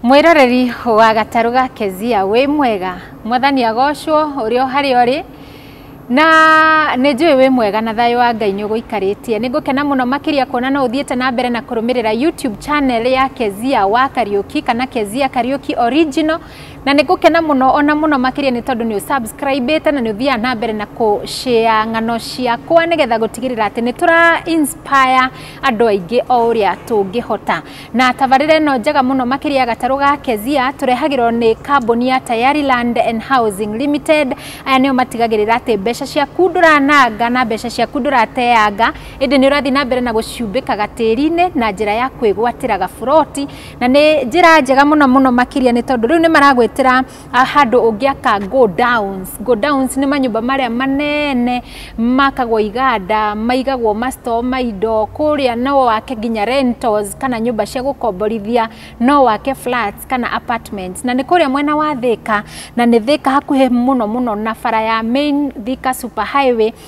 Mwĩroreri wa gatarũ ga Kezia wĩ mwega, mwathani agocwo ũrĩa harĩa ũrĩ na nĩ njũĩ wĩ mwega na thayũ wa Ngai nĩ ũgũikarĩtie. Nĩ ngũkena mũno makĩria kuona no ũthiĩte na mbere na kũrũmĩrĩra YouTube channel ya Kezia wa Kariũki kana Kezia Kariũki Original, na nĩ ngũkena mũno ona mũno makĩria nĩ tondũ nĩ ũsubscribĩte na nĩ ũthiaga na mbere na kũ share ng'ano ciakwa nĩgetha gũtigĩrĩra atĩ nĩ tũra inspire andũ aingĩ o ũrĩa tũngĩhota. Na tabarĩra ĩno njega mũno makĩria ya gatarũ ga Kezia tũrehagĩrwo nĩ kambuni ya Tayari Land and Housing Limited. Aya nĩo matigagĩrĩra atĩ mbeca ciaku ndũrananga na mbeca ciaku ndũrateanga, ĩndĩ nĩ ũrathiĩ na mbere na gũciumbĩka gatĩri-inĩ na njĩra ya kwĩgwatĩra gaburoti. Na nĩ njĩra njega mũno mũno makĩria nĩ tondũ rĩu nĩ maragwĩtĩra Ah, handũ ũngĩaka go downs go downs nĩ manyũmba marĩa manene makagwo iganda maigagwo mastoo ma indo kũrĩa no wake nginya rentals kana nyũmba cia gũkomborithia no wake flats kana apartments na nĩ kũrĩa mwena wa thĩka na nĩ thĩka hakuhĩ mũno mũno na bara ya main thika super highway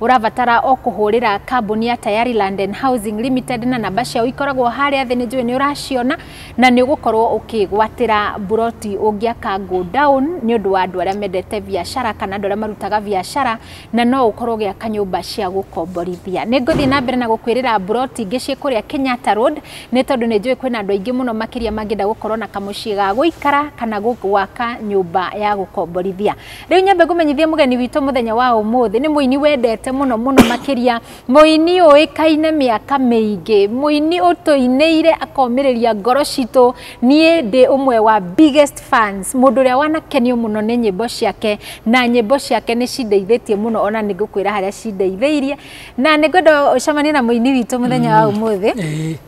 Ũrabatara o kũhũrĩra kambuni ya Tayari Land and Housing Limited na namba ciao ikoragwo harĩa thĩ nĩ njũĩ nĩ ũraciona na nĩ ũgũkorwo ũkĩgwatĩra mburoti ũngĩaka go down nĩ ũndũ wa andũ arĩa mendete biacara kana andũ arĩa marutaga biacara na no ũkorwo ũgĩaka nyũmba cia gũkomborithia. Nĩ ngũthiĩ na mbere na gũkwĩrĩra mburoti ingĩ ciĩ kũrĩa Kenyatta Road nĩ tondũ nĩ njũĩ kwĩna andũ aingĩ mũno makĩria mangĩenda gũkorwo na kamũciĩ ga gũikara kana gwaka nyũmba ya gũkomborithia. Rĩu nyambe ngũmenyithie mũgeni witũ mũthenya wa ũmũthĩ nĩ mũini wendete mũno mũno makĩria mũini ũĩkaine mĩaka mĩingĩ mũini ũtũinĩire akomĩrĩria ngoro citũ niĩ ndĩ ũmwe wa biggest fans mũndũ ũrĩa wanakenio mũno nĩ nyĩmbo ciake na nyĩmbo ciake nĩ cindeithĩtie mũno ona nĩ ngũkwĩra harĩa cindeithĩirie na nĩ ngwenda ũcemanie na mũini witũ mũthenya wa mm. ũmũthĩ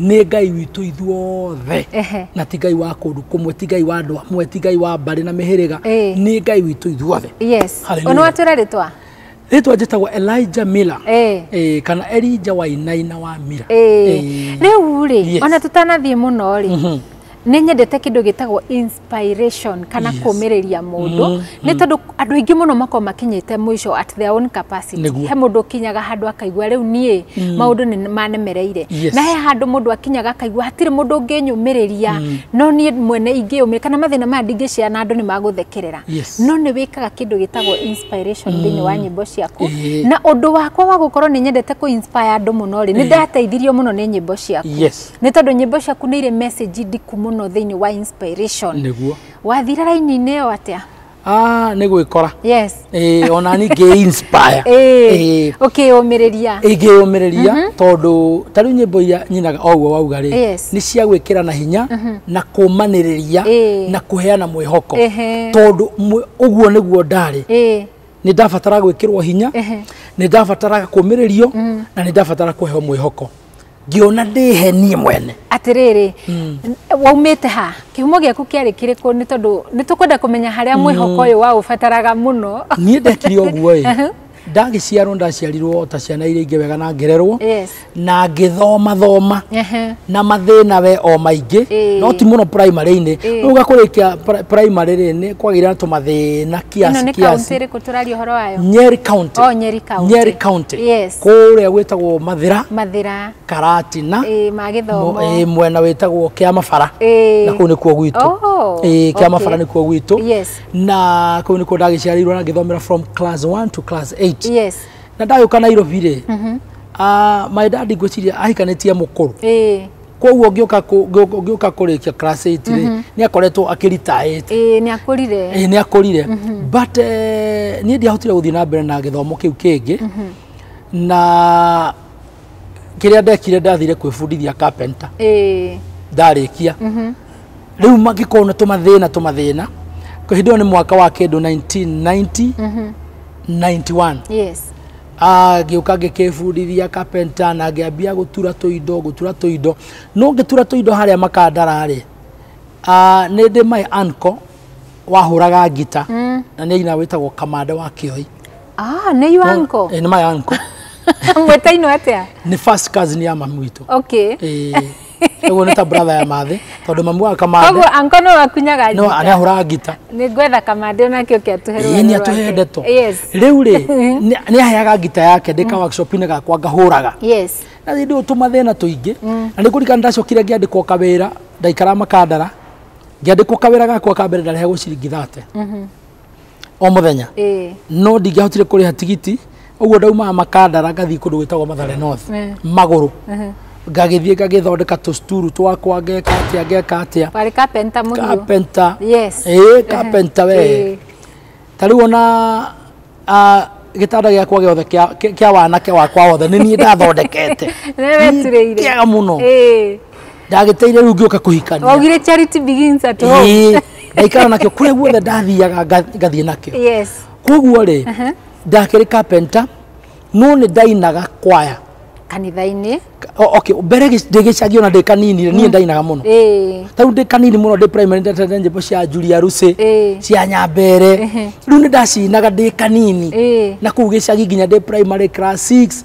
nĩ ngai witũ ithuothe Ehe. na ti ngai wa kũndũ kũmwe ti ngai wa andũ amwe ti ngai wa mbarĩ na mĩhĩrĩga Ĩĩ. nĩ ngai witũ ithuothe yes Hallelujah. ona watwira ritwa rĩtwa njĩtagwo elija mila Ĩĩ. Eh, kana elija wainaina wa mila Eh, rĩu rĩ Yes. ona tũtanathiĩ mũno rĩ nĩ nyendete kĩndũ gĩtagwo inspiration kana Yes. kũmĩrĩria mũndũ Mm, nĩ tondũ andũ aingĩ mũno makorwo makinyĩte mũico at their own capacity Nĩguo. he mũndũ ũkinyaga handũ akaigua rĩu niĩ maũndũ nĩ manemereire Yes. na he handũ mũndũ akinyaga akaigua hatirĩ mũndũ ũngĩnyũmĩrĩria no niĩ mwene ingĩyũmĩrĩria kana mathĩna maya ndingĩcea na andũ nĩ magũthekerera Yes. no nĩ wĩkaga kĩndũ gĩtagwo inspiration thĩinĩ wa nyĩmbo ciaku Eh. na ũndũ wakwa wa gũkorwo nĩ nyendete kũ inspire andũ mũno rĩ nĩ ndateithirio mũno nĩ nyĩmbo ciaku yes nä tondå nyä mbo ciaku nä irä message ndiku må no thä inä wa inspiration nĩguo wathire raini-inä ä yo atä a Ah, nĩ gwĩkora yes Eh, ona ningĩ inspire Eh, å kä yå mä rä ria ingĩyũmĩrĩria tondũ ta rĩu nyĩmbo iria nyinaga o ũguo wauga rĩ Yes. nĩ cia gwĩkĩra na hinya na kũmanĩrĩria Eh. na kũheana mwĩhoko Ehe. tondũ mwe- ũguo nĩguo ndarĩ ä nĩ ndabatara gwĩkĩrwo hinya Ehe. nĩ ndabataraga kũmĩrĩrio na nä ndabatara kå heo mwä hoko ngĩona ndĩhe niĩ mwene atĩrĩrĩ waumĩte ha kĩhumo gĩaku kĩarĩ kĩrĩkũ nĩ tondũ nĩ tũkwenda kũmenya harĩa mwĩhoko ũyũ waũbataraga mũno niĩ ndekire ũguo ĩ Aha. ndagĩciarwo ndaciarirwo o ta ciana iria ingĩ wega na ngererwo Yes. na ngĩthoma thoma Ehe. na mathĩna we o maingĩ Ĩĩ. no ti mũno primary-inĩ Ĩĩ. rĩu gakũrĩkia pri- primary rĩ nĩ kwagĩire na tũmathĩna ĩno kiasi nĩ kaunti kiasi ĩrĩkũ tũraria ũhoro wayo nyeri county Oh, Nyeri County. Nyeri county Yes. kũrĩa gwĩtagwo mathira mathira karatina ĩĩ ma gĩthomo Mo- ĩĩ, mwena wĩtagwo kĩa mabara Ĩĩ. na kũu nĩkuo gwitũ Oh, Ĩĩ, kĩa okay. mabara nĩkuo gwitũ Yes. na kũu nĩkuo ndagĩciarirwo na ngĩthomera from class 1 to class 8 yes na ndagĩũka nairobi rĩ ah, my dad ngwĩciria ahikanĩtie mũkũrũ ĩĩ koguo ngĩũka kũ- ngĩũka- ngĩũka kũrĩkia class 8 rĩ nĩ akoretwo akĩritaĩte ĩĩ nĩ akũrire ĩĩ nĩ akũrire but eh, niĩ ndiahotire gũthiĩ na mbere na gĩthomo kĩu kĩngĩ na kĩrĩa ndekire ndathire kwĩbundithia carpenter ĩĩ ndarĩkia rĩu magĩkorwo na tũmathĩna tũmathĩna hĩndĩ ĩyo nĩ mwaka wa kĩndũ 1990 91 yes Ah, ngĩũka ngĩkĩbundithia carpenter na ngĩambia gũtura tũindo gũtura tũindo no ngĩtura tũindo harĩa makandara-rĩ ah, nĩ ndĩ my uncle wahũraga ngita na nĩ aina wĩtagwo kamande wa kĩoi Ah, nĩ you uncle. Eh, nĩ my uncle Mwĩtainwo atĩa? nĩ first cousin ya mamu witũ Okay. Eh, Ũguo nĩ ta brother ya mathĩ tondũ mamu wa kamande Koguo anko no akunyaga no njita. arĩa ahũraga ngita Nĩ ngwetha kamande onake oke atuhe rũgano ĩĩ nĩ rwake. atũhe ndeto Yes. rĩu rĩ nĩ- nĩ aheaga ngita yake ndĩ ka workshop-inĩ gakwa ngahũraga Yes. na rĩndĩ ũyũ tũmathĩna tũingĩ na nĩ kũrikana ndacokire ngĩandĩkwo kawĩra ndaikara makandara ngĩandĩkwo kawĩra gakwa ka mbere ndarehagwo ciringi thate o mũthenya Eh. no ndingĩahotire kũrĩha tigiti ũguo ndaumaga makandara ngathiĩ kũndũ gwĩtagwo mathare north Eh. magũrũ Ehe. ngagĩthiĩ ngagĩthondeka tũcuturu twakwa ngeka atĩa ngeka atĩa Warĩ carpenter mũhiũ. kapenta Yes. ĩĩ kapenta we Eh. ta rĩu ona ah, gĩtanda gĩakwa gĩothe kĩa- kĩa kĩa wanake wakwa wothe nĩ niĩ ndathondekete Nĩ weturĩire. Nĩ kĩega mũno Eh. ndagĩteire rĩu ngĩũka kũhikania waugire charity begins at home Ĩĩ, ndaikara nakĩo kũrĩa guothe ndathiaga nga- ngathiĩ nakĩo yes koguo rĩ ndakĩrĩ kapenta no nĩ ndainaga kwaya kanitha-inĩ O- okay mbere gĩ- ndĩ gĩcagi ona ndĩ kanini rĩ, niĩ ndainaga mũno ĩĩ tau ndĩ kanini mũno ndĩ primary ndatete nyĩmbo cia njuria rucĩ Ĩĩ. cia nyambere rĩu nĩ ndacinaga ndĩ kanini ĩĩ na kũu gĩcagi nginya ndĩ primary class 6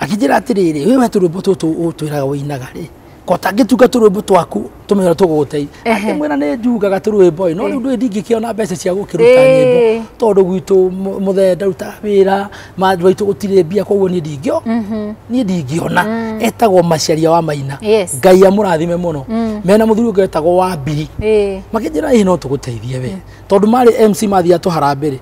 akĩnjĩra atĩrĩrĩ wĩ we tũrwĩmbo tũtũ ũtwĩraga ũinaga rĩ kota ngĩtunga tũrwĩmbo twaku tũmenya tũgũgũteithia Ehe. akĩmwĩra nĩ njugaga tũrwĩmbo ĩ no rĩu ndũĩ ndingĩkĩona mbeca cia gũkĩruta Ĩĩ. nyĩmbo tondũ gwitũ mũ- mũthee ndaruta wĩra mandũ aitũ gũtirĩ mbia koguo niĩ ndingĩo niĩ ndingĩona etagwo maciaria wa maina Yes. ngai amũrathime mũno mena mũthuri ũngĩ wetagwo wa mbiri Ĩĩ. makĩnjĩra ĩ no tũgũteithie we tondũ marĩ mc mathiaga tũharambĩ rĩ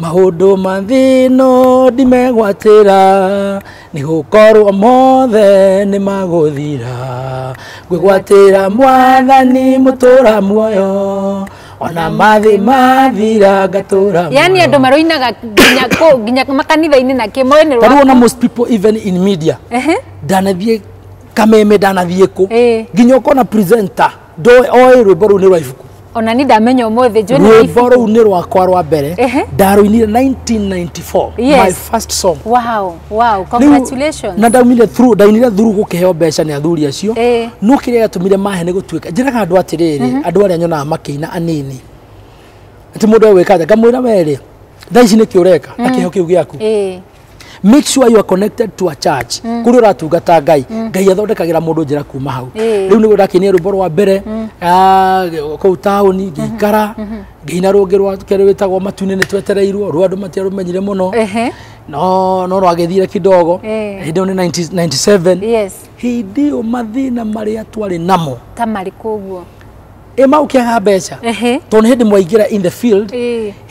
Maũndũ ma thĩ ĩno ndimegwatĩra, nĩ gũkorwo mothe nĩ magũthira. Ngwĩgwatĩra mwathani mũtũra muoyo, ona mathĩ mathira ngatũra muoyo. yani andå maroinaga nginya kũ- nginya makanitha-inä na kä moä nä Ta rĩu ona most people even in media ndanathiĩ kameme ndanathiĩ kũ Ĩĩ. nginya ũkona presenter ndoĩ oĩ rwĩmbo rũu nĩ rwa ibuku ona ni ndamenya umuthi njue nĩ rwĩmbo rũu nĩ rwakwa rwa mbere Ehe. ndarũinire 1994 my Yes. first song wow wow Rĩu, congratulations na ndaumire through ndainire thuru gũkĩheo mbeca nĩ athuri acio Ĩĩ. no kĩrĩa gĩatũmire mahe nĩ gũtuĩka njĩraga andũ atĩrĩrĩ andũ arĩa nyonaga makĩina anini atĩ mũndũ egwĩka atĩa ngamwĩra werĩ thaa ici nĩkĩ ũreka na kĩheo kĩu gĩaku Ĩĩ. make sure you are connected to a church mm. kuri uratungata ngai mm. ngai athondekagira mundu njira kuma hau eh. riu nigo ndakinia rwimbo rwa mbere mm. ah, kuu tauni mm-hmm. ngĩikara mm-hmm. ngĩina rũngĩ rwa kerĩ wĩtagwo matune nĩ twetereirwo rwa andũ matiarũmenyire mũno no no rwagĩthire kidogo eh. hĩndĩ ĩyo nĩ 97 hĩndĩ ĩyo mathĩna marĩa twarĩ namo ta marĩkũ ũguo ä mau kä aga mbeca tondå nä hä ndä mwaingä ra in the field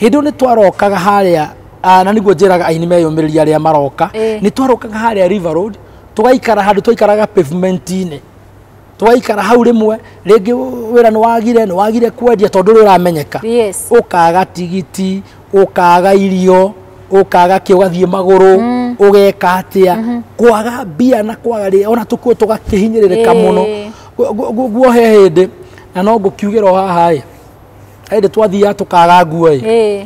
hä ndä nä twarokaga harä a Ah, na niguo njĩraga aini meyũmĩrĩria arĩa maroka Eh. nĩ twarũkaga harĩa river road tũgaikara handũ twaikaraga pavement-inĩ tũgaikara hau rĩmwe rĩngĩ wĩra nĩ wagire nĩ wagire kwendia tondũ ũrĩa ũramenyeka Yes. ũkaga tigiti ũkaga irio ũkaga kĩ ũgathiĩ magũrũ ũgeka atĩa kwaga mbia na kwaga rĩ ona tũkuo tũgakĩhinyĩrĩrĩka Eh. mũno Gu- gu- gu- guo he hĩndĩ na no ngũkiugĩra o haha ĩ hĩndĩ twathiaga tũkaga nguo ĩ Eh.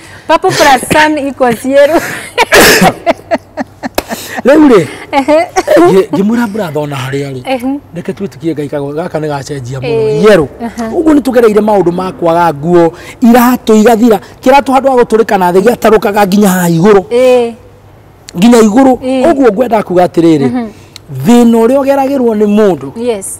Papo Prasan iko cieru. rĩu rĩ ngĩ mwĩra mburathona harĩa rĩ reke twĩtĩkie ngai kago gaka nĩ gacenjia mũno Eh. yerũ ũguo nĩ tũgereire maũndũ ma kwaga nguo iratũ igathira kĩratũ handũ wa gũtũrĩka na thĩ gĩatarũkaga nginya haha igũrũ Eh, nginya igũrũ Eh. ũguo ngwendaga kuga atĩrĩrĩ thĩna ũrĩa ũgeragĩrwo nĩ mũndũ yes.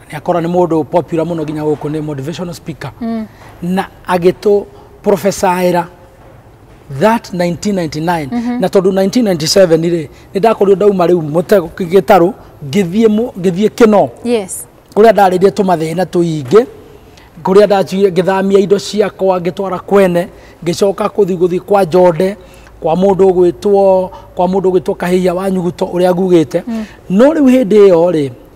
na nä akorwo nä må ndå popular mũno nginya gũkũ nĩ motivational speaker na agĩtũ profesaĩra that 1999 na tondũ 1997 rĩ nĩ ndakorirwo ndauma rĩu mũtego gĩtarũ ngĩthiĩ mũ- ngĩthiĩ kĩno yes kũrĩa ndarĩrie tũmathĩna tũingĩ kũrĩa ndathire ngĩthamia indo ciakwa ngĩtwara kwene ngĩcoka kũthi gũthi kwa njonde kwa mũndũ ũgwĩtwo kwa mũndũ ũgwĩtwo kahĩhia wa nyuguto ũrĩa ngugĩte no rĩu hĩndĩ ĩyo rĩ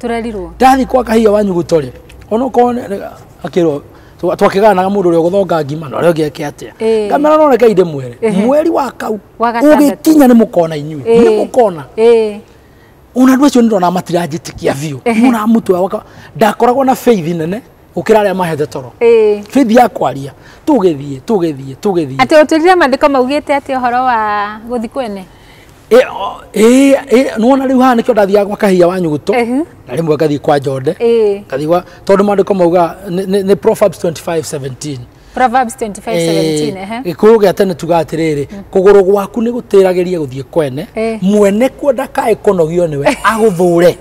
tũrerirwo ndathi kwa kahia wanyu gutore ona ko akirwo twakiganaga mundu uria guthonga ngima na uria ugeke atia Eh. ngamera no reke inde mwere Ehe. mweri wa kau Wa gatandatũ. ugikinya ni mukona inyui Eh. ni mukona Eh, ona andu acio ndirona matiranjitikia biu Ehe. muna mutwe waka ndakoragwo na faith nene gukira aria mahete toro eh. faith ya kwaria tugithie tugithie tugithie atĩ ũtwĩrire maandĩko maugĩte atĩ ũhoro wa gũthi kwene Eh, o- eh, eh, nĩwona rĩu haha nĩkĩo ndathiaga gwa kahia wa nyuguto Ehe. na rĩmwe ngathiĩ kwa njonde Eh. ngathiĩ gwa tondũ maandĩko mauga nĩ- nĩ nĩ proverbs 25 17 Proverbs 25:17, ehe. gĩkũyũ gĩa tene tuga atĩrĩrĩ kũgũrũ gwaku nĩ gũtĩragĩria gũthiĩ kwene Eh. mwene kuo ndakae kũnogio nĩwe agũthũre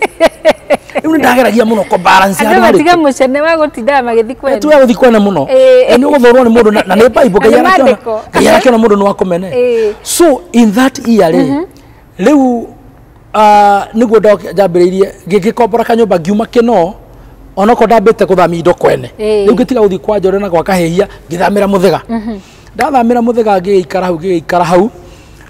rĩu nĩ ndageragia mũno kũ balance andå handũ harĩ- matiga må cene wa gå tindaga magä thiä kwenda tuya guthi kwene muno Ĩĩ. na ni uguthurwo ni mundu na na ni bible Na nĩ maandĩko. ngai arakiona mundu ni wa kumene Ĩĩ. so in that year ri riu niguo njambiriirie ngikombora kanyumba ngiuma kino onoko ndambite kuthamia indo kwene Ĩĩ. riu ngitiga guthi kwa njore na gwa kahehia ngithamira muthiga ndathamĩra mũthega ngĩgĩikara hau ngĩgĩikara hau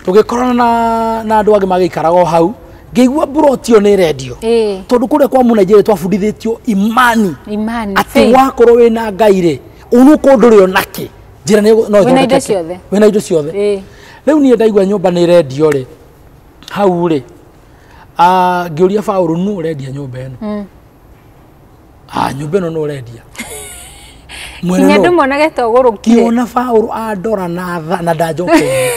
tũgĩkorana na na andũ angĩ magĩikaraga o hau ngĩigua mburoti ĩyo nĩ ĩrendio Ĩĩ. tondũ kũrĩa kwa mũnaijeria twabundithĩtio imani imani atĩ faith. wakorwo wĩ na ngai rĩ ũnũkũ ndũrĩ o nakĩ njĩra nĩ no Wĩna indo ĩthondekeke. ciothe. wĩna indo ciothe Ĩĩ. rĩu niĩ ndaigua nyũmba nĩ ĩrendio rĩ hau rĩ ah, ngĩũria baũrũ nũ ũrendia nyũmba ĩno Ah, nyũmba ĩno no ũrendia. Mwena Nginya no- ndĩmonage ta ũgũrũkire. Ngĩona Baũrũ andora na tha na ndanjokeire.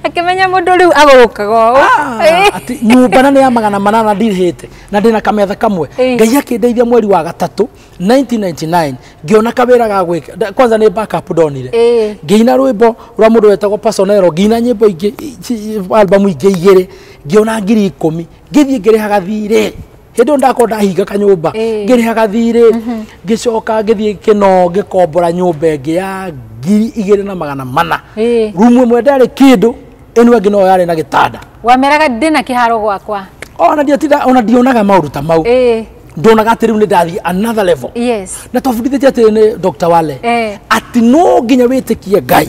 Akĩmenya mũndũ rĩu agũrũkaga ũũ. Ah, atĩ nyũmba na nĩ ya magana manana ndirĩhĩte na ndĩna kametha kamwe Eh. ngai akĩndeithia mweri wa gatatũ 1999 ngĩona kawĩra ga gwĩka nda- kwanza nĩ backup ndonire Eh. ngĩina rwĩmbo rwa mũndũ wetagwo pasonero ngĩina nyĩmbo ingĩ ci- albamu ingĩ igĩrĩ ngĩona ngiri ikũmi ngĩthiĩ ngĩrĩhaga thirĩ hĩndĩ ndakorwo ndahinga kanyũmba eh. ngĩrĩha gathirĩ mhm. ngĩcoka ngĩthiĩ kĩno ngĩkombora nyũmba ĩngĩ ya ngiri igĩrĩ na magana mana eh. rumu ĩmwe ndarĩ kĩndũ ĩno ĩngĩ no yarĩ na gĩtanda wameraga ndĩ na kĩharo gwakwa ona ndiatinda ona ndionaga maũndũ ta mau eh. ndonaga atä rä u nä ndathiä another level yes. na twabundithä tie atä nä dr wale eh. atä no nginya wä tä kie ngai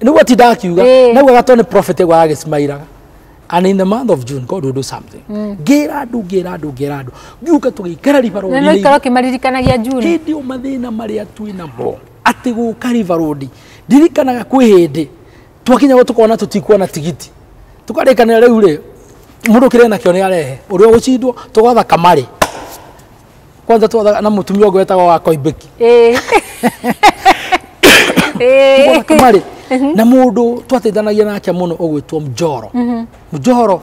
niguo ti ndakiuga Ĩĩ. naguo gatwa nä prophet ĩgwa agĩcimairaga and in the month of june god will do something ngĩra andũ ngĩra andũ ngĩra andũ ngiuka tũgĩikara riba na no ikorwo rũri kimaririkanagia juni hĩndĩ ĩyo mathĩna marĩa twĩ namo atĩ gũka riba rũndi ndirikanaga kwĩ hĩndĩ twakinya gwo tũkona tũtikuona tigiti tũkarĩkanĩra rĩu rĩ mũndũ kĩrĩ nakĩo nĩ arehe ũrĩa ũgũcindwo tũgwatha kamarĩ kwanza twathaga na mutumia ũngĩ wetagwo wa koimbeki Eh. Eh. Tũgũra kamarĩ na mũndũ twateithanagia nake mũno ũgwĩtwo mjoro mjoro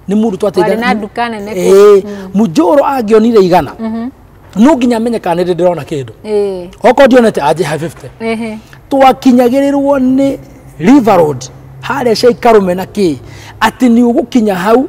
nĩ mũndũ Warĩ na nduka nene kũu. mjoro angĩonire igana no nginya amenye kana nĩ ndĩrona kĩndũ Eh. okorwo ndionete anjĩha 50 Ehe. twakinyagĩrĩrwo nĩ river road harĩa ciaikarume na kĩ atĩ nĩ ũgũkinya hau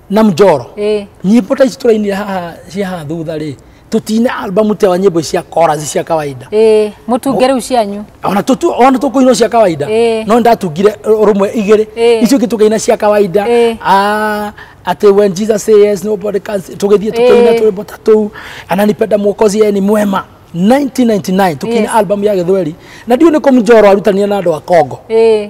na mjoro Eh. nyimbo ta ici tũrainire haha cia haha thutha rĩ tũtine albamu te wa nyimbo ici cia korazi cia kawaida Eh, mũtunge rĩu cianyu ona tutu ona tukuina cia kawaida Eh. no ndatungire rumwe igiri Eh. icio kitukaina cia kawaida Eh. ah ati when jesus say yes nobody can say- tugithie tukaina Eh. twimbo ta tu ananipenda mwokozi yeye ni mwema 1999 tukiina Yes. album ya githweri na ndio ni kumjoro arutanire na andu a kongo Eh,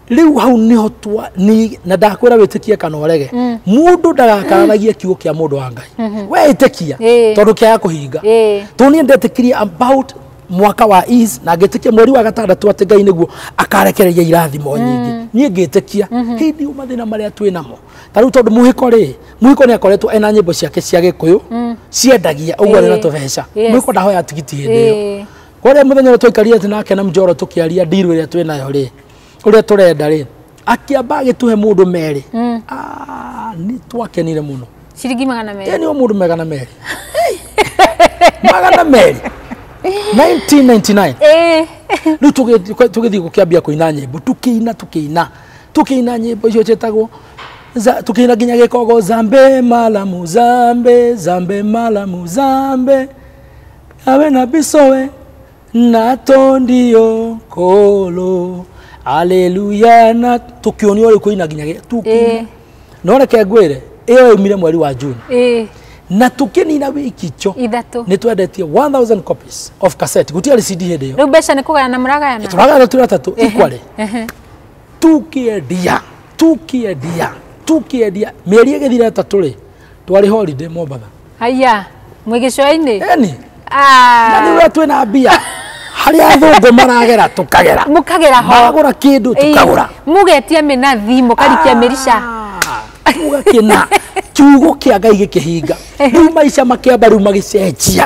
riu hau niho twa ni na ndakwira witikie kana urege mundu ndagakararagie kiugo kia mundu wa ngai we itikia Eh. tondu kiaga kuhinga Eh. to niä ndetikirie about mwaka wa is na ngĩtĩkia mweri wa gatandatũ atĩ ngai nĩguo akarekereria irathimo nyingĩ niĩ ngĩtĩkia hindi u mathĩna marĩa twĩ namo ta rĩu tondũ mũhĩko rĩ mũhĩko nĩ akoretwo ena nyĩmbo ciake cia gĩkũyũ ciendagia ũguo arĩ na Eh. tũbeca Yes. mũhĩko ndahoya tigiti hĩndĩ ĩyo Eh. kwaria mũthenya ũrĩa twaikarire atĩ nake na mjoro tũkĩaria ndiru ĩrĩa twĩ nayo rĩ ũrĩa tũrenda rĩ akĩamba agĩtũhe mũndũ merĩ mm. ah, nĩ twakenire mũno ciringi magana merĩ yani o mũndũ magana merĩ magana merĩ 1999 eh. rĩu tũgĩthiĩ gũkĩambia kũina nyĩmbo tũkĩina tũkĩina tũkĩina nyĩmbo icio ciĩtagwo tũkĩina nginya gĩkogo zambe malamu zambe zambe malamu zambe awe na bisowe na to ndio kolo aleluya na tũkĩonio ũrĩa kũina nginya gĩ- tũkĩina Eh. no reke ngwĩre ĩyo yaumire mweri wa juni Eh, na tũkĩnina wiki cho ithatũ nĩ twendetie 1000 copies of cassette gũtiarĩ cd hĩndĩ ĩyo rĩu mbeca nĩ kũgayana mũragayana tũragana tũra tatũ ikwale Ehe. tukiendia tukiendia tukiendia mĩeri ĩgĩthira ĩtatũ rĩ twarĩ holiday mombatha Haya, mwĩ gĩcũa-inĩ? Eni. Ah. Na nĩ ũrĩa twĩ na mbia. harĩa athũngũ maragera tũkagera mũkagera ho magũra kĩndũ tũkagũra mũgetia mĩnathi mũkarikia ah, mĩrica mũgakĩna kiugo kĩa ngai gĩkĩhinga rĩu maica makĩamba rĩu magĩcenjia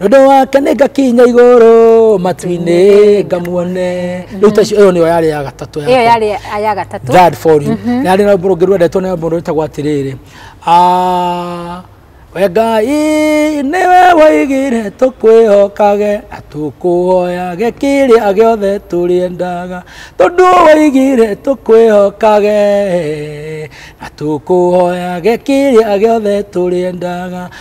Wendo wake nĩ ngakinya igũrũ matu-inĩ ngamuone rĩu ta icio ĩyo nĩyo yarĩ ya gatatũ yakwa. ĩyo yarĩ ya gatatũ Dad for you na yarĩ na rũmbũ rwendetwo nĩ mũndũ wĩtagwo atĩrĩrĩ Ah, we ngai nĩwe waigire tũkwĩhokage na tũkũhoyage kĩrĩa gĩothe tũrĩendaga tondũ waigire tũkwĩhokage na tũkũhoyage kĩrĩa gĩothe tũrĩendaga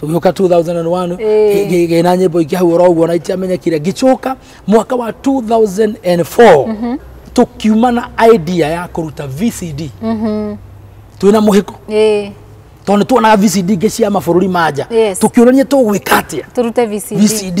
tũgĩũka 2001 Ĩĩ. ngĩ- ngĩna nyĩmbo ingĩ hau oro ũguo na itiamenyekire ngĩcoka mwaka wa 2004 tũkiuma na idea ya kũruta vcd twĩna mũhĩko Ĩĩ. tondũ nĩ tuonaga vcd ingĩ cia mabũrũri ma nja Yes. tũkĩũrania tũgwĩka atĩa turute VCD. vcd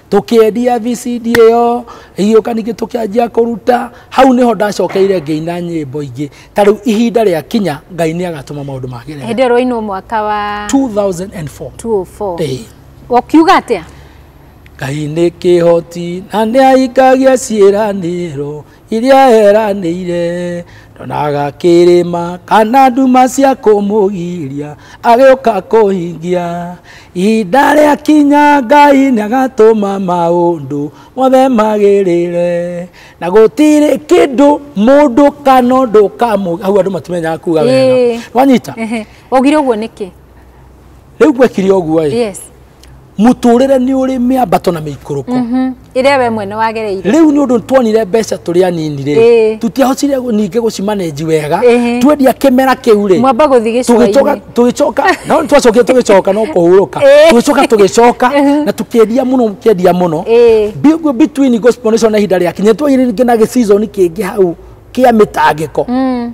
tũkĩendia VCD ĩyo ĩgĩũka ningĩ tũkĩanjia kũruta hau nĩho ndacokeire ngĩina nyĩmbo ingĩ ta rĩu ihinda rĩa kinya ngai nĩ agatũma maũndũ magĩrĩre hĩndĩ ĩyo rwainwo mwaka wa 2004 204 Ĩĩ. ũkiuga atĩa ngai nĩ kĩhoti na nĩ aingagia ciĩranĩro iria eranĩire ndonaga kĩrĩma kana nduma cia kũmũgiria agĩũka kũhingia ihinda rĩa kinya ngai nĩagatũma maũndũ mothe magĩrĩre na gũtirĩ kĩndũ mũndũ kana ũndũ kamũ hau andũ matimenyaga kuga wega Ĩĩ. wanyita Ehe. Waugire ũguo nĩkĩ? rĩu gwekire ũguo ĩ yes mũtũrĩre nĩ ũrĩ mĩambato na mĩikũrũko Mhm. ĩrĩa we mwene wagereire rĩu nĩ ũndũ tuonire mbeca tũrĩ anini rĩ Ĩĩ. tutiahotire gu- ningĩ gũcimanenji wega Ĩhĩ. twendia kĩmera kĩu rĩ mwamba gũthiĩ tũgĩcoka gĩcũa-inĩ tũgĩcoka no twacokire tũgĩcoka no kũhurũka Ĩĩ. tũgĩcoka tũgĩcoka Mhm. na tũkĩendia mũno kĩendia mũno Ĩĩ. Bi- gu- between gospel nation na ihinda rĩakinya twagire rĩngĩ na gĩcizoni kĩngĩ hau kĩa mĩtangĩko Mm.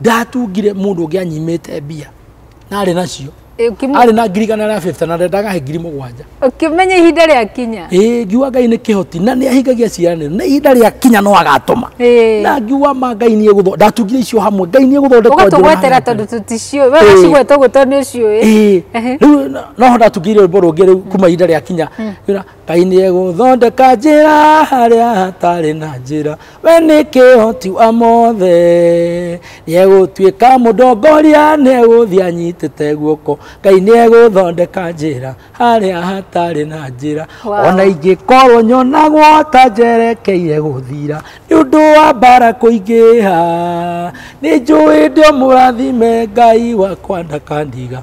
ndatungire mũndũ ũngĩ anyimĩte mbia na arĩ nacio arĩ na ngiri igana rĩa bĩbta na ndendaga he ngiri mũgwanja ũkĩmenya ihinda rĩa kinya ĩĩ ngiuga ngai nĩ kĩhoti na nĩ ahingagia ciĩranĩro na ihinda rĩa kinya no agatũma na ngiuga ma ngai nĩ egũthondeka ndatungire icio hamwe ngai nĩ egũthondeka ũgatũgwetera tondũ tũticiũĩ we wacigweta ũguo tondũ nĩ ũciũĩ rĩu no ho ndatungire rwĩmbo rũngĩ rĩu kuma ihinda rĩa kinya hmm. Ngai nĩ egũthondeka njĩra harĩa hatarĩ na njĩra we nĩ kĩhoti wa mothe nĩ egũtuĩka mũndongoria nĩ egũthiĩ anyitĩte guoko Ngai nĩ egũthondeka njĩra harĩa hatarĩ na njĩra Wow. ona ingĩkorwo nyonagwo ta njerekeire gũthira nĩ ũndũ wa mbara kũingĩha nĩ njũĩ ndĩ mũrathime Ngai wakwa ndakandiga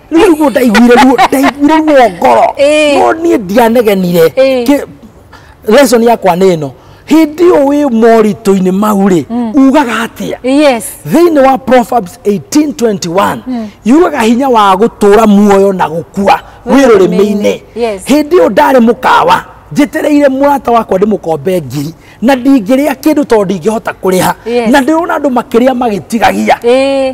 rä ruo ndaiguire ruo ndaiguire ruo ngoro Ĩĩ. no niä ndianegenire Ĩĩ. Kĩ- lesson yakwa nä ä no hä ndä ä yo wä moritå-inä mau rä ugaga atä a yes thĩinĩ wa proverbs 1821 yugaga hinya wa gũtũũra muoyo na gũkua wĩ rũrĩmĩ-inĩ Yes. hĩndĩ ĩyo ndarĩ mũkawa njĩtereire mũrata wakwa ndĩmũkombe ngiri na ndingĩrĩa kĩndũ tondũ ndingĩhota kũrĩha Yes. na ndĩrona andũ makĩrĩa magĩtigagia ĩĩ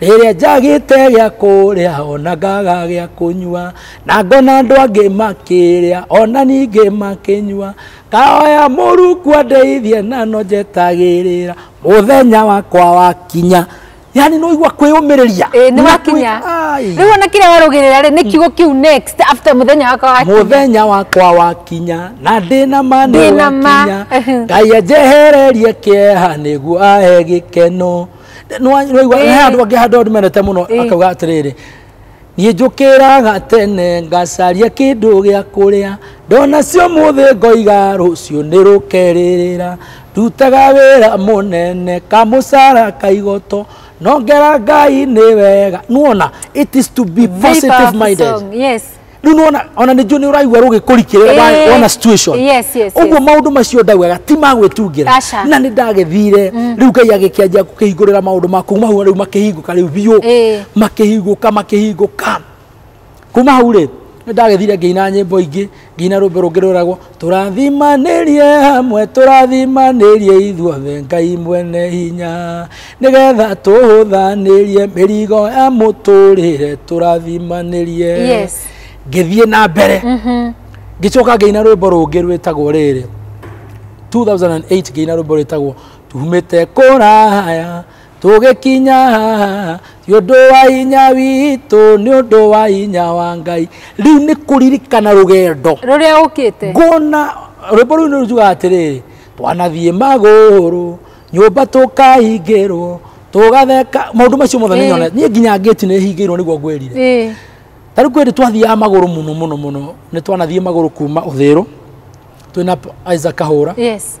Rĩrĩa njagĩte gĩa kũrĩa ona ngaga gĩa kũnyua, na ngona andũ angĩ makĩrĩa ona ningĩ makĩnyua, ngahoya Mũrungu andeithie na no njetagĩrĩra mũthenya wakwa wakinya. Yani nĩ waigua kwĩyũmĩrĩria. Ĩĩ nĩ wakinya. Rĩu ona kĩrĩa warũgĩrĩra rĩ nĩ kiugo kĩu next after mũthenya wakwa wakinya. Mũthenya wakwa wakinya na ndĩ na ma nĩ wakinya. Ngai anjehererie kĩeha nĩguo ahe gĩkeno. nĩwaigua he andũ angĩ handũ andũ menete mũno akauga atĩrĩrĩ niĩ njũkĩraga tene ngacaria kĩndũ gĩa kũrĩa ndona cio mũthĩ ngoiga rũciũ nĩ rũkerĩrĩra ndutaga wĩra mũnene kamũcara kaigoto nongera ngai nĩ wega nuona it is to be positive minded yes rĩu nĩwona ona nĩnjũ nĩ ũraigua rũgĩ kũrikĩrĩra wa- Eh, wona situation yes, yes, ũguo yes. maũndũ macio ndaugaga ti ma gwĩtungĩra Aca. na nĩ ndagĩthire rĩu ngai agĩkĩanjia kũhingũrĩra maũndũ ma kuma hau rĩu makĩhingũka rĩu biũ Eh. makĩhingũka makĩhingũka kuma hau rĩ nĩ ndagĩthire ngĩina nyĩmbo ingĩ ngĩina rũmbe rũngĩ rwĩragwo tũrathimanĩrie hamwe tũrathimanĩrie ithuothe ngai mwene hinya nĩgetha tũhũthanĩrie mĩrigo ya mũtũrĩre tũrathimanĩrie Yes. ngĩthiĩ na mbere ngĩcoka ngĩina rwĩmbo rũngĩ rwĩtagwo rĩrĩ 2008 ngĩina rwĩmbo rwĩtagwo tumĩte kũraya tũgĩkinya haha nĩ ũndũ wa hinya witũ nĩ ũndũ wa hinya wa ngai rĩu nĩ kũririkana rũgendo rũrĩa ũkĩte ngona rwĩmbo rũu nĩ rũjugaga atĩrĩrĩ twanathiĩ magũrũ nyũmba tũkahingĩrwo tũgatheka maũndũ macio mothe nĩ Ĩĩ. nyonete niĩ nginya ngĩti nĩ hingĩirwo nĩguo ngwĩrire Ĩĩ. ta rĩu kwĩrĩ twathiaga magũrũ mũno mũno mũno nĩ twanathiĩ magũrũ kuma ũthĩrũ twĩna Isaac Kahũra yes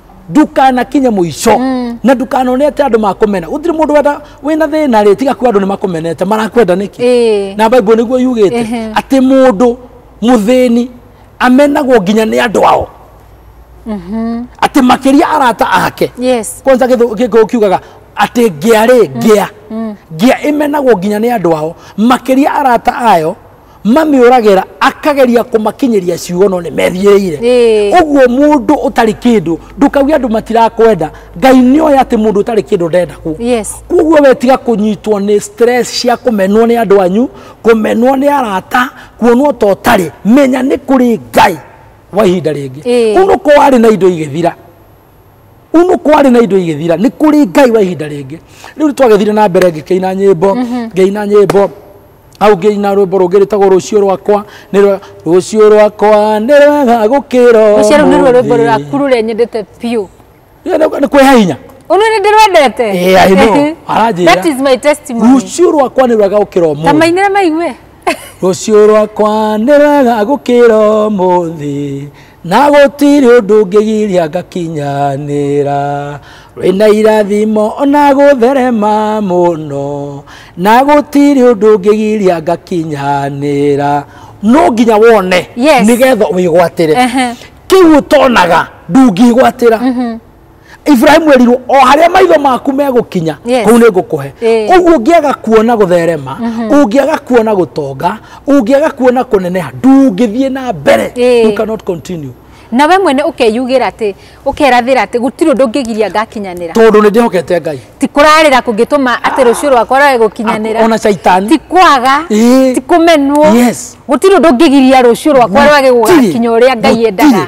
ndukanakinye muico mm. na ndukanone ati andu makumena gutiri mundu wenda wina thina ri tiga ku andu ni makumenete marakwenda niki eh. na bible niguo yugite ati mundu muthini amenagwo nginya ni andu ao mhm. ati makiria arata ake yes kwanza githu kiugaga ati ngia ri ngia mm. mm. ngia imenagwo nginya ni andu ao makiria arata ayo mamĩũragĩra akageria kũmakinyĩria ciugo no nĩ methiĩrĩire Ĩĩ. ũguo mũndũ ũtarĩ kĩndũ ndũkauge andũ matirakwenda ngai nĩ oĩ atĩ mũndũ ũtarĩ kĩndũ ndendagwo Yes. koguo we tiga kũnyitwo nĩ stress cia kũmenwo nĩ andũ anyu kũmenwo nĩ arata kuonwo ta ũtarĩ menya nĩ kũrĩ ngai wa ihinda rĩngĩ Ĩĩ. kũu nĩkuo warĩ na indo igĩthira unu kwarĩ na indo igĩthira nĩ kũrĩ ngai wa ihinda rĩngĩ rĩu nĩ twagĩthire na mbere ngĩkĩina nyĩmbo mhm. ngĩina nyĩmbo au ngĩina rwĩmbo rũngĩ rĩtagwo rũciũ rwakwa nĩ rwega rũciũ rwakwa nĩ rwega gũkĩra rũciũ rũu nĩruo rwĩmbo rwaku rũrĩa nyendete biũ nĩ kwĩha hinya Unu ni ndirwendete. Yeah, I know. Aranjira. That is my testimony. Rucio rwakwa ni rwega gukira umuthi. Tamainira maigwe. Rucio rwakwa ni rwega gukira umuthi. na gũtirĩ ũndũ ũngĩgiria ngakinyanĩra wĩna irathimo ona gũtherema mũno na gũtirĩ ũndũ ũngĩgiria ngakinyanĩra no nginya wone Yes. nĩgetha wĩgwatĩre Ehe. kĩu ũtonaga ndũngĩgwatĩra iburahimu erirwo o harĩa maitho maku megũkinya Yes. kũu nĩ ngũkũhe Eh. ũguo ũngĩaga kuona gũtherema ũngĩaga kuona gũtonga ũngĩaga kuona kũneneha ndũngĩthiĩ na mbere Eh. you cannot continue na we mwene ũkeyugĩra atĩ ũkerathĩra atĩ gũtirĩ ũndũ ũngĩgiria ngakinyanĩra tondũ nĩ ndĩhokete ngai ti kũrarĩra kũngĩtũma atĩ rũciũ rwakwa rwage gũkinyanĩra ona caitani ti kwaga Ĩĩ. ti kũmenwo Yes. gũtirĩ ũndũ ũngĩgiria rũciũ rwakwa rwage Gũtirĩ. gũgakinya ũrĩa ngai Gũtirĩ. endaga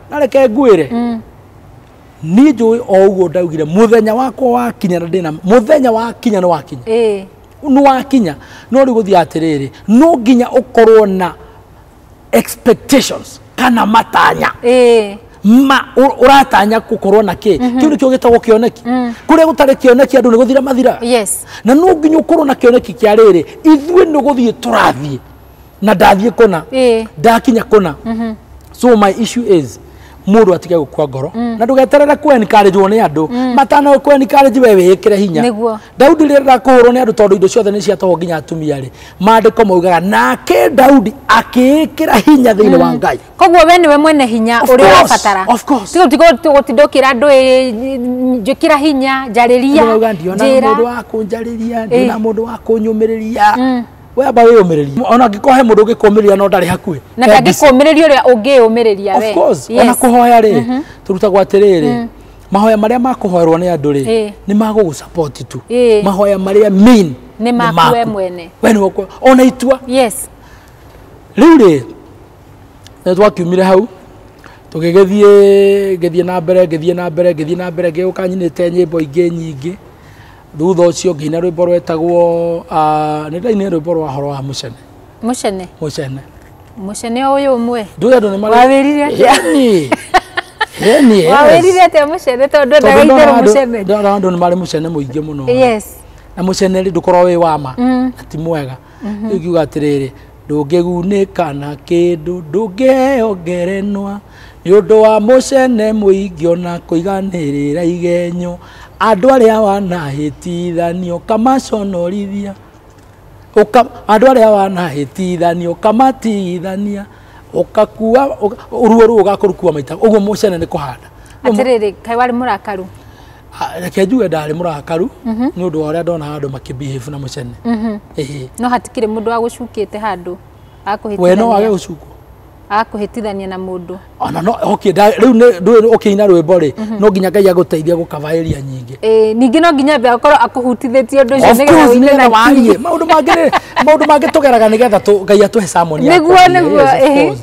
na reke ngwĩre niĩ njũĩ o ũguo ndaugire mũthenya wakwa wakinya na ndĩna mũthenya wakinya nĩ wakinya ĩĩ nĩ wakinya no rĩu gũthiĩ atĩrĩrĩ no nginya ũkorwo na expectations kana matanya ĩĩ ma ũ- ũratanya gũkorwo na kĩ kĩu nĩkĩo gĩtagwo kĩoneki kũrĩa gũtarĩ kĩoneki andũ nĩ gũthira mathiraga yes na no nginya ũkorwo na kĩoneki kĩa rĩrĩ ithuĩ nĩ gũthiĩ tũrathiĩ na ndathiĩ kũna Ĩĩ. ndakinya kũna so my issue is mũndũ atige gũkua ngoro na ndũgeterere kwenkarĩjwo nĩ andũ matana kwenkarĩji we wĩĩkĩre hinya Nĩguo. daudi rĩrĩa ndakũhũrwo nĩ andũ tondũ indo ciothe nĩ ciatoho nginya atumia rĩ maandĩko maugaga nake daudi akĩĩkĩra hinya thĩinĩ wa ngai koguo we nĩwe mwene hinya Of ũrĩa course, ũrabatara of course. gũtinda ũkĩra andũ ĩ, njĩkĩra hinya njarĩria Ndĩrauga ndiona njĩra mũndũ wa kũnjarĩria ndiona mũndũ wa kũnyũmĩrĩria we amba wĩyũmĩrĩrie ona angĩkorwo he mũndũ ũngĩkũmĩrĩria no ndarĩ hakuhĩ na He mbica. ndangĩkũmĩrĩria ũrĩa ũngĩyũmĩrĩria we of course Yes. ona kũhoya rĩ tũrutagwo atĩrĩrĩ mahoya marĩa makũhoerwo nĩ andũ rĩ Ĩĩ. nĩ magũgũ support tu Ĩĩ. mahoya marĩa mean Nĩ maku we mwene. we nĩwe ũkwe- ona itua yes rĩu rĩ nĩ twakiumire hau tũgĩgĩthiĩ ngĩthiĩ na mbere ngĩthiĩ na mbere ngĩthiĩ na mbere ngĩgũka nyinĩte nyĩmbo ingĩ nyingĩ thutha ũcio ngĩina rwĩmbo rwetagwo ah, nĩ ndainire rwĩmbo rwa horo wa mũcene mucene mũcene mucene uyu umwe ndũĩ andũ nĩ marĩ- Wawĩrire atĩa? Ĩni. Ĩni, yes. wawirire atia mucene tondu Tondũ ndagaithere ndona andũ- mucene ndona andũ nĩ marĩ mũcene mũingĩ mũno yes na mũcene rĩ ndũkorwo wĩ wama Mm. na ti mwega rĩu ngiuga atĩrĩrĩ ndũngĩgunĩka na kĩndũ ndũngĩheo ngerenwa nĩ ũndũ wa mũcene mũingĩ ona kũiganĩrĩra igenyo andũ arĩa wanahĩtithanio kamaconorithia Ũka, andå arä a wanahätithania ũkamatigithania ũkakua ũka- ruo rå å gakorukua maita å guo må cene nä kå handa atiriri kai wari murakaru Ha- reke njuge ndarĩ mũrakaru nĩ ũndũ wa ũrĩa ndona andũ makĩbehave na mũcene Ĩhĩ. no hatikĩrĩ mũndũ agũcukĩte handũ we no wage akũhĩtithania gũcukwo akũhĩtithania na mũndũ ona no okay nda- rĩu nĩ- ndũĩ ũkĩina rwĩmbo rĩ no nginya ngai agũteithia gũkabaĩria nyingĩ Eh, ningĩ no nginya ambe akorwo akũhutithĩtie ũndũ ũcio Of nĩgetha course, ũine nĩgetha na warie. kiri. maũndũ mangĩ rĩ, maũndũ mangĩ tũgeraga nĩgetha tũ- ngai atũhe samoni ya Nĩguo, kwaria. nĩguo, Yes, of ĩhĩ. course.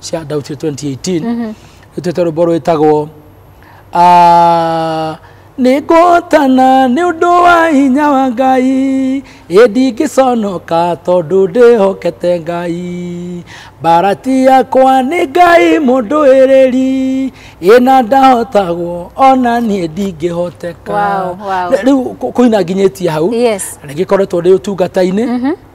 cia ndau cia 2018 ĩtuĩte rwĩmbo rwĩtagwo "Ah, nĩngũhotana nĩ ũndũ wa hinya wa ngai ĩndingĩconoka tondũ ndĩhokete ngai mbarati yakwa nĩ ngai mũndũ ĩrĩri ĩna ndahotagwo ona niĩ ndingĩhoteka Wow, wow. rĩu kũ- kũina nginyĩtie hau Yes. na nĩngĩkoretwo ndĩ ũtungata-inĩ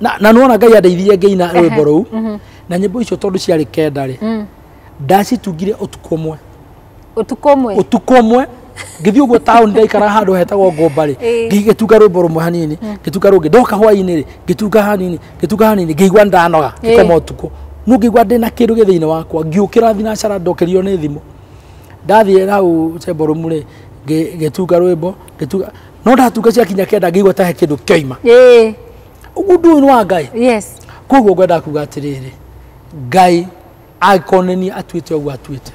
na na nona ngai andeithirie ngĩina rwĩmbo rũu na nyĩmbo icio tondũ ciarĩ kenda rĩ Mm. ndacitungire ũtukũ ũmwe Ũtukũ ũmwe. ũtukũ ũmwe ngĩthiĩ ũguo taũni ndaikara handũ hetagwo ngomba rĩ Ĩĩ. ngĩtunga rwĩmbo rũmwe hanini ngĩtunga rũngĩ ndoka hwainĩ rĩ ngĩtunga hanini ngĩtunga hanini ngĩigua ndanoga Ĩĩ. ngĩkoma ũtukũ no ngĩigua ndĩ na kĩndũ gĩ thĩinĩ wakwa ngiũkĩra thinacara ndokerio nĩ thimũ ndathiĩ hau cemborumu rĩ ngĩ- ngĩtunga rwĩmbo ngĩtunga no ndatunga ciakinya kenda ngĩigua ta he kĩndũ kĩoima ĩĩ ũguo ndũĩ nĩ wa ngai yes koguo ngwenda kuga atĩrĩrĩ ngai angĩkorwo nĩ niĩ atuĩte ũguo atuĩte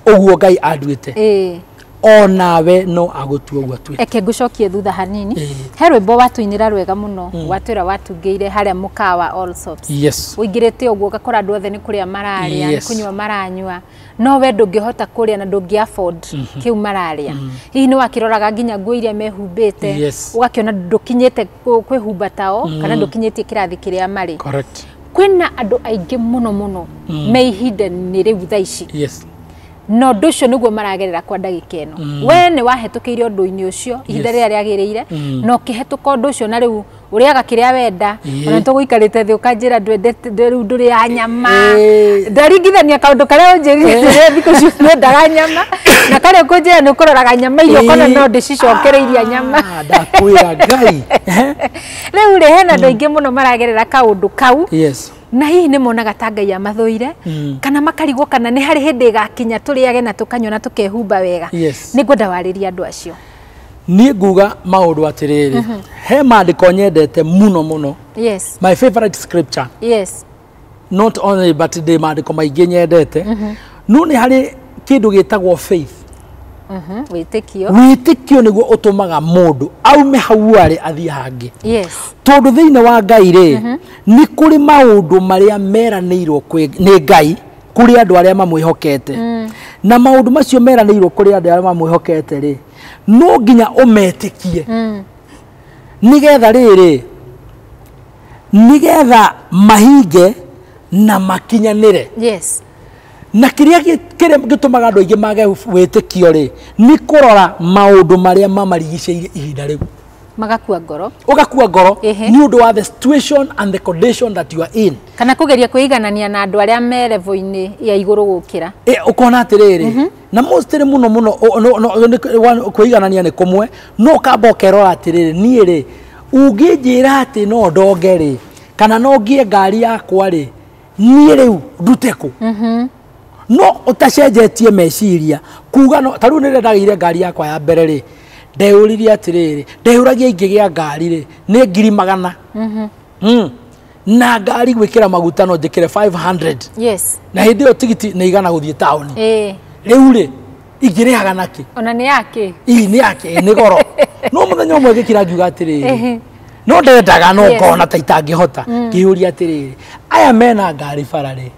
ũguo ngai anduĩte ĩĩ o nawe no agũtua ũguo atuĩte eke ngũcokie thutha hanini Ĩĩ. he rwĩmbo watũinĩra rwega mũno watwĩra watungĩire harĩa mũkawa all sorts yes ũingĩrĩte ũguo ũgakora andũ othe nĩ kũrĩa mararĩa nĩ Yes. kũnyua maranyua no we ndũngĩhota kũrĩa na ndũngĩ afford kĩu mararĩa hihi nĩ wakĩroraga nginya nguo iria mehumbĩte Yes. ũgakĩona ndũkinyĩte kũ- kwĩhumba tao kana ndũkinyĩtie kĩrathi kĩrĩa marĩ correct kwĩna andũ aingĩ mũno mũno me ihinda-inĩ rĩu tha ici yes na ũndũ ũcio nĩguo maragerera kwa ndagĩka ĩno mm. we nĩ wahetũkĩire ũndũ-inĩ ũcio ihinda Yes. rĩrĩa rĩagĩrĩire Mm. na ũkĩhetũka ũndũ ũcio na rĩu ũrĩaga kĩrĩa wenda Ĩĩ. ona tũgũikarĩte thĩ ũkanjĩra ndwendete ndwe- rĩu ndũrĩaga nyama Ĩĩ. ndaringithania kaũndũ karĩa ũnjĩrire rĩrĩa thikũ icio nyendaga nyama na karĩa ũkũnjĩra nĩ ũkũroraga nyama iria ũkona Ĩĩ. no ndĩcicokereiria nyama Ah, ndakwĩra ngai rĩu rĩ hena andũ aingĩ mũno maragerera kaũndũ kau yes na hihi nĩ monaga ta ngai amathũire Mm. kana makarigwo kana nĩ harĩ hĩndĩ ĩgakinya tũrĩage na tũkanyua na tũkehumba wega Yes. nĩ ngwenda warĩria andũ acio niĩ nguga maũndũ atĩrĩrĩ mhm. he maandĩko nyendete mũno mũno yes. my favorite scripture yes. not only but ndĩ maandĩko maingĩ nyendete mm -hmm. no nĩ harĩ kĩndũ gĩtagwo faith mhm, wĩtĩkio wĩtĩkio nĩguo ũtũmaga mũndũ aume hau arĩ athiĩ hangĩ yes. tondũ thĩinĩ wa ngai rĩ mm -hmm. nĩ kũrĩ maũndũ marĩa meranĩirwo nĩ ngai kuri andu aria mamwihokete mm. na maundu macio meraniirwo kuri andu aria mamwihokete ri no nginya umetikie mm. nigetha riri nigetha mahinge na makinyanire yes na kiria gitumaga andu aingi mage witikio ri ni kurora maundu maria mamarigiceirie ihinda riu magakua ngoro ũgakua ngoro Ehe. nĩ ũndũ wa the situation and the condition that you are in kana kũgeria kwĩiganania na andũ arĩa me level-inĩ ya igũrũ gũkĩra e, ũkona atĩrĩrĩ na mostly mũno mũno o- no- no- nĩ- wa- kwĩiganania nĩ kũmwe no ũkamba ũkerora atĩrĩrĩ niĩ rĩ ũngĩnjĩra atĩ no ndonge rĩ kana no ngĩe ngari yakwa rĩ niĩ rĩu ndute kũ no ũtacenjetie meciria kuga no ta rĩu nĩrĩa ndagĩire ngari yakwa ya mbere rĩ ndeyũririe atĩrĩrĩ ndeyũragia ingĩgĩa ngari rĩ nĩ ngiri magana mm-hmm. mm. na ngari gwĩkĩra maguta no njĩkĩre 500 yes. na hĩndĩ ĩyo tigiti nĩ igana gũthiĩ taũni eh. rĩu rĩ ingĩrĩhaga nakĩ ona nĩ yakĩ ii nĩ yakĩ nĩ goro no mũthenya ũmwe gĩkira ngiuga atĩrĩrĩ no ndendaga no ngona ta itangĩhota mm. ngĩyũria atĩrĩrĩ aya mena ngari bara rĩ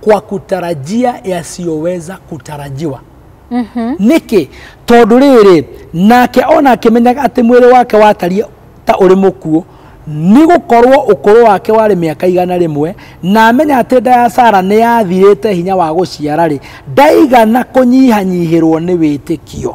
kwa kutarajia yasiyoweza kutarajiwa nĩkĩ tondũ rĩrĩ nake ona akĩmenyaga atĩ mwĩrĩ wake watariĩ ta ũrĩ mũkuũ nĩ gũkorwo ũkũrũ wake warĩ mĩaka igana rĩmwe na amenya atĩ nda ya sara nĩ yathirĩte hinya wa gũciara-rĩ ndaigana kũnyihanyihĩrwo nĩ wĩtĩkio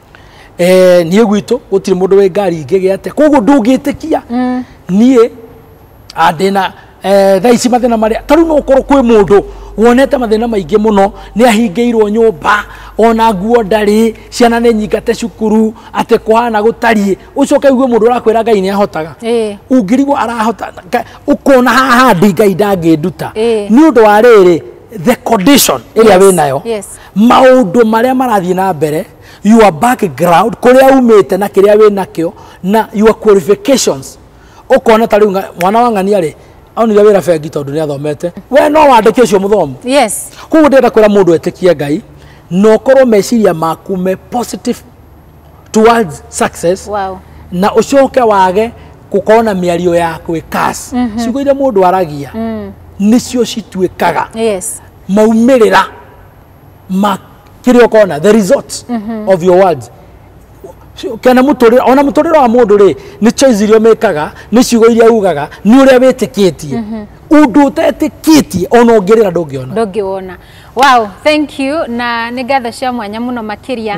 eh, niĩ gwitũ gũtirĩ mũndũ wĩ ngari ingĩ gĩa atĩa koguo ndũngĩtĩkia niĩ ah, ndĩna eh, thaa ici mathĩna marĩa tarĩu no ũkorwo kwĩ mũndũ wonete mathĩna maingĩ mũno nĩ ahingĩirwo nyũmba ona nguo ndarĩ ciana nĩ nyingate cukuru atĩ kũhana gũtariĩ ũcoke ũigue mũndũ ũrakwĩra ngai nĩ ahotaga Ĩĩ. ũngĩrigwo arahota Nga- ũkona haha ndi ngai ndangĩnduta Ĩĩ. nĩ ũndũ wa rĩrĩ the condition ĩrĩa Yes, wĩ nayo yes. maũndũ marĩa marathiĩ na mbere your background kũrĩa umĩte na kĩrĩa wĩ nakĩo na your qualifications ũkona ta rĩu mwana wa ng'ania rĩ onire wĩra bengi tondũ nĩ athomete we no wandĩke ũcio mũthomu yes koguo ndĩrenda kwĩra mũndũ etĩkie ngai na ũkorwo meciria maku me positive towards success wow. na ũcoke wage gũkorwo na mĩario ya gwĩkas mm -hmm. ciugo iria mũndũ aragia mm. nĩcio cituĩkaga yes maumĩrĩra ma kĩrĩa ũkona the results of your words kana mũtũrĩra ona mũtũrĩra wa mũndũ rĩ nĩ choice iria ũmĩkaga nĩ ciugo iria ugaga nĩ ũrĩa wĩtĩkĩtie ũndũ ũtetĩkĩtie ona ũngĩrĩra ndũngĩona ndũngĩwona wow thank you na nĩ ngatho cia mwanya mũno makĩria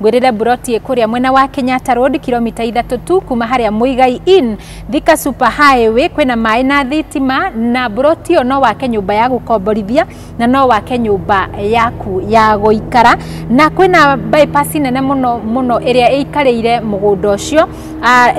Ngwĩrĩre mburoti ĩkũrĩa mwena wa Kenyatta Road kilomita ithatũ tu kuma harĩa Muigai Inn, Thika Super Highway, kwĩna maĩ na thitima na mburoti ĩyo no wake nyũmba ya gũkomborithia na no wake nyũmba yaku ya gũikara na kwĩna bypass nene mũno mũno ĩrĩa ĩikarĩire mũgũnda ũcio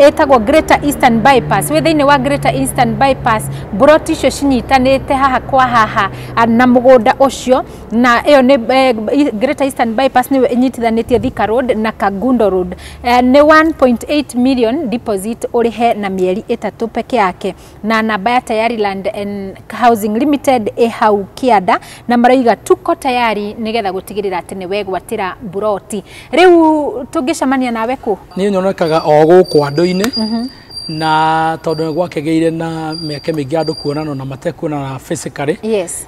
ĩtagwo Greater Eastern Bypass. Wĩ thĩinĩ wa Greater Eastern Bypass mburoti icio cinyitanĩte haha kwa haha na mũgũnda ũcio na ĩyo nĩ eh, Greater Eastern Bypass nĩyo ĩnyitithanĩtie Thika Road na Kangundo Road eh, nĩ 1.8 million deposit ũrĩhe na mĩeri ĩtatũ peke yake na namba ya Tayari Land and Housing Limited ĩ hau kĩanda na maraiga tuko tayari nĩgetha gũtigĩrĩra atĩ nĩ wegwatĩra mburoti rĩu tũngĩcemania nawe kũ niä nyonekaga o gå kå andå-inä na tondå nä gwakegä ire na mä aka mä ingä andå kuonana na matekuonana physically yes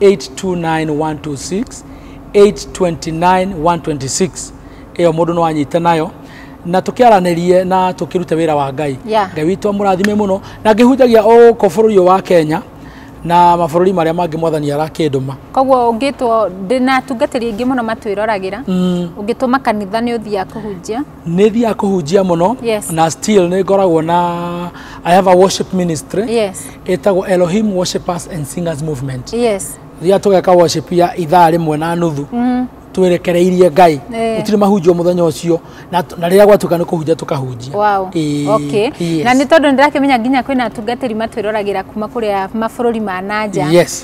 829126 829126 ĩyo mũndũ no anyite nayo na tukiaranirie na tukirute wira wa ngai yeah. ngai witũ amũrathime muno na ngĩhunjagia o gũkũ bũrũri wa kenya na mabũrũri marĩa mangĩ mwathani arakĩndũma koguo ũngĩtwo ndĩna atungatĩri aingĩ mũno matwĩroragĩra mm. ũngĩtũma kanitha nĩ ũthiaga kũhunjia nä thiaga kå hunjia må no Yes. na still nä ngoragwo na i have a worship ministry Yes. ĩtagwo elohim worshipers and singers movement Yes. thiaga tå geka worship ya ithaa rä mwe na nuthu Mm. twerekereirie ngai Eh. gũtirĩ mahunjio mũthenya ũcio na na rĩrĩa gwatuĩka nĩ kũhunjia tũkahunjia Wow. Ĩĩ, Okay. yes. Na nĩ tondũ nĩndĩrakĩmenya nginya kwĩna atungatĩri matwĩroragĩra kuma kũrĩa mabũrũri ma nanja. Yes.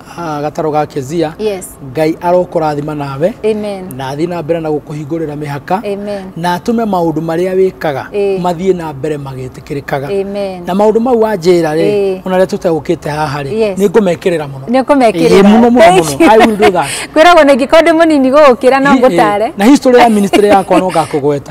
ah, gataro ga kezia yes ngai arokũrathima nawe amen na athiĩ na mbere na gũkũhingũrĩra mĩhaka amen na atũme maũndũ marĩa wĩkaga Ĩĩ. mathiĩ na mbere magĩtĩkĩrĩkaga amen na maũndũ mau wanjĩra rĩ Ĩĩ. ona rĩa tũtegũkĩte haha rĩ Yes. nĩ ngũmekĩrĩra mũno nä kå Ĩĩ, mũno, mũno, mũno. I will do that. kwä ragwo nä ngä korwo ndä må nini gå gå kä ra no ngå tare na history ya ministry yakwa no ngakũgweta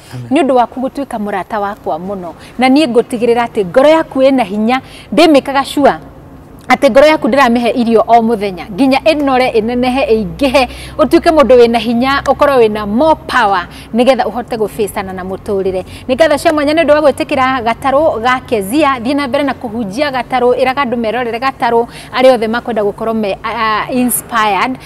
nĩ ũndå waku gũtuĩka mũrata wakwa mũno na niĩ ngũtigĩrĩra atĩ ngoro yaku ĩna hinya ndĩmĩkaga cua atä ngoro yaku ndäramä irio o må thenya nginya änore ĩnenehe ĩingĩhe ũtuĩke mũndũ wĩna hinya ũkorwo wĩna more power nĩgetha ũhote gũbĩcana na mũtũrĩre nĩ ngatho cia mwanya nĩ ũndũ wa gwĩtĩkĩra gatarũ ga kezia thiĩ na mbere na kũhunjia gatarũ ĩraga andũ merorere gatarũ arĩa othe makwenda gũkorwo me uh, inspired